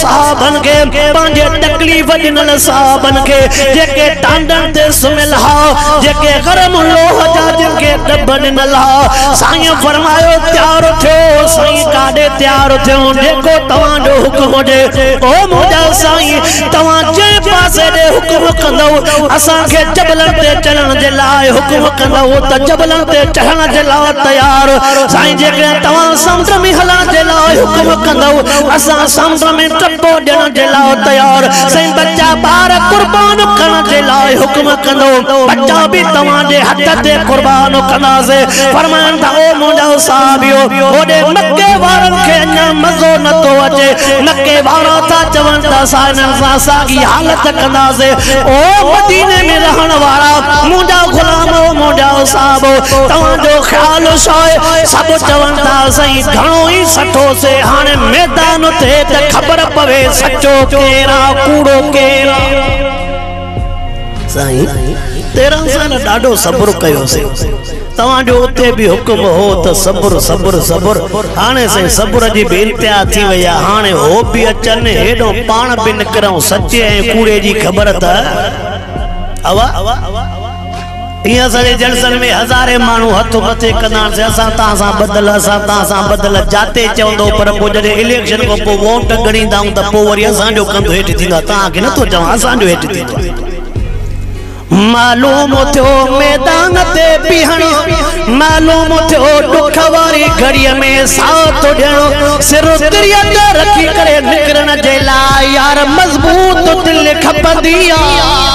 صحابن کي پنهنجي تڪليف ڏنل صحابن کي جيڪي ٽانڊن تي سمهيل ها جيڪي گرم لوهه جا جن کي ڏڀ ڏنل ها سائين فرمايو تيار ٿيو سائين ڪاڏي تيار ٿيون جيڪو توهان جو حڪم هجي او منهنجا سائين توهان جنهن پاسي ڏي حڪم ڪندؤ اسان کي جبلن تي چڙهڻ جي لاء حڪم ڪندؤ ته جبلن تي چڙهڻ جي لاء تيار سائين جيڪڏهن توهان سمنڊ ۾ هلڻ جي لاء حڪم ڪندؤ اسان سمنڊ ۾ ٽپو ڏيڻ جي لاء تيار، سائين ٻچا ٻار قربان ڪرڻ جي لاء حڪم ڪندو، ٻچا به توهان جي هٿ تي قربان ڪنداسي، فرمايائون ته او منهنجا صحابيو! هوڏي مڪي وارن کي اڃا مزو نه ٿو اچي، مڪي وارا ٿا چون ته اسان انهن سان ساڳي حالت ڪنداسي، او مديني ۾ رهڻ وارا منهنجا غلام او منهنجا صحابو! توهان جو خيال ڇا آهي؟ سڀ چون ٿا اسين گهڻو ئي سٺو سي هاڻي ميدان اٿي ته خبر پوي سچو ڪير آ ڪوڙو ڪير آ. سائين تيرنهن سال ڏاڍو صبر ڪيو سي توهان جو اتي به حڪم هو ته صبر صبر صبر هاڻي سائين صبر جي به انتها ٿي وئي آ هاڻي هو به اچن هيڏو پاڻ به نڪرئون سچي ۽ ڪوڙي جي خبر ته اوهان ايئن اسان جي جلسن ۾ هزارين ماڻهو هٿ مٿي ڪندا آهن سي اسان توهان سان ٻڌل اسان توهان سان ٻڌل جاتي چوندو پر پوء جڏهن اليڪشن کان پوء ووٽ ڳڻيندا آهيون ته پوء وري اسان جو ڪنڌ هيٺ ٿيندو آهي توهان کي نٿو چوان اسان جو هيٺ ٿيندو آهي معلوم ٿيو ميدان تي بيهڻو معلوم ٿيو ڏک واري گهڙي ۾ ساٿ ڏيڻو سر تري تي رکي ڪري نڪرڻ جي لاء يار مضبوط دل کپندي آهي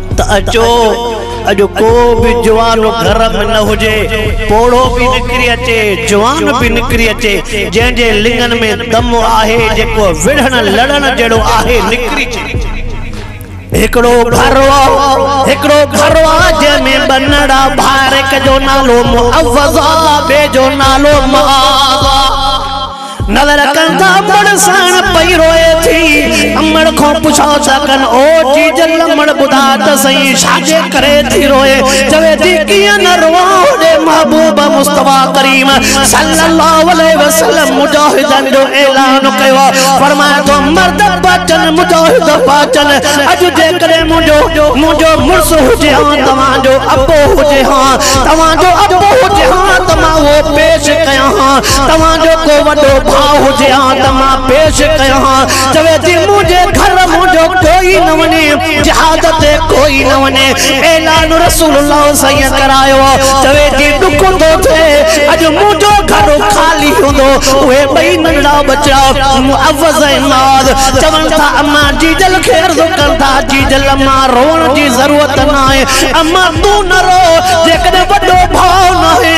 ته اچو اڄ ڪو به جوان گهر ۾ نه هجي، پوڙهو به نڪري اچي، جوان به نڪري اچي، جنهن جي لڱن ۾ دم آهي، جيڪو وڙهڻ لڙهڻ جهڙو آهي، نڪري اچي. هڪڙو گهر هو، هڪڙو گهر هو، جنهن ۾ ٻه نڙا ڀاء، هڪ جو نالو معوض هو، ٻئي جو نالو معاذ هو. نظر ڪن ٿا مڙ ساڻ پئي روئي ٿي امڙ کان پڇو ٿا ڪن او جيجل امڙ ٻڌاء ته سهي ڇاجي ڪري ٿي روئي چوي ٿي ڪيئن نه روئان هوڏي محبوب مصطفيٰ ڪريم صلّي اللّٰه عليه وسلّم مجاهدن جو اعلان ڪيو فرمائي ٿو مرد پاچن مجاهد پاچن اڄ جيڪڏهن منهنجو منهنجو مڙس هجي ها توهان جو ابو هجي ها توهان جو ابو هجي ها ته مان اهو پيش ڪيان ها توهان جو ڪو وڏو ڀاء هجي ها ته مان پيش ڪيان ها. چوي ٿي، منهنجي گهر منهنجو ڪوئي نه وڃي، جهاد تي ڪوئي نه وڃي. اعلان رسول الله سائين ڪرايو هو. چوي ٿي، ڏک ٿو ٿئي، اڄ منهنجو گهر خالي هوندو. اهي ٻئي ننڍڙا ٻچڙا معوذ ۽ معاذ چون ٿا، اما جيجل کي عرض ڪن ٿا، جيجل اما روئڻ جي ضرورت ناهي. اما تون نه رو، جيڪڏهن وڏو ڀاء ناهي.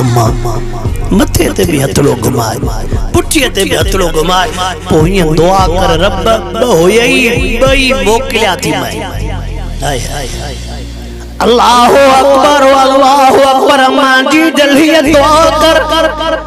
اما مٿي تي به هٿڙو گهماء پٺيء تي به هٿڙو گهماء پوء هيئن دعا ڪر رب ٻه هيئي ٻئي موڪليان ٿي مئي هاء هاء الله اڪبر الله اڪبر امان جي دل هيئن دعا ڪر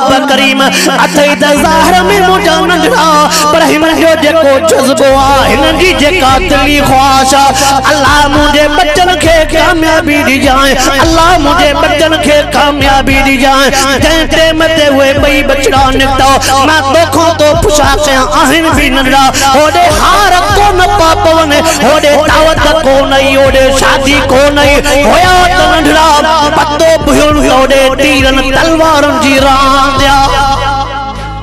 الله ڪريم اٿئي ته ظاهر ۾ منهنجا ننڍڙا پر هن جو جيڪو جذبو آ هن جي جيڪا دلي خواهش آ الله منهنجي ٻچن کي ڪاميابي ڏجانء الله منهنجي ٻچن کي ڪاميابي ڏجانء جنهن ٽيم تي اهي ٻئي ٻچڙا نڪتا مان توکان ڪو پڇا ڪيا آهن به ننڍڙا هوڏي هار ڪونه پا پون هوڏي دعوت ڪونه ئي هوڏي شادي ڪونه ئي هيا ته ننڍڙا پتو پهيو ته هوڏي تيرن تلوارن جي راند آ.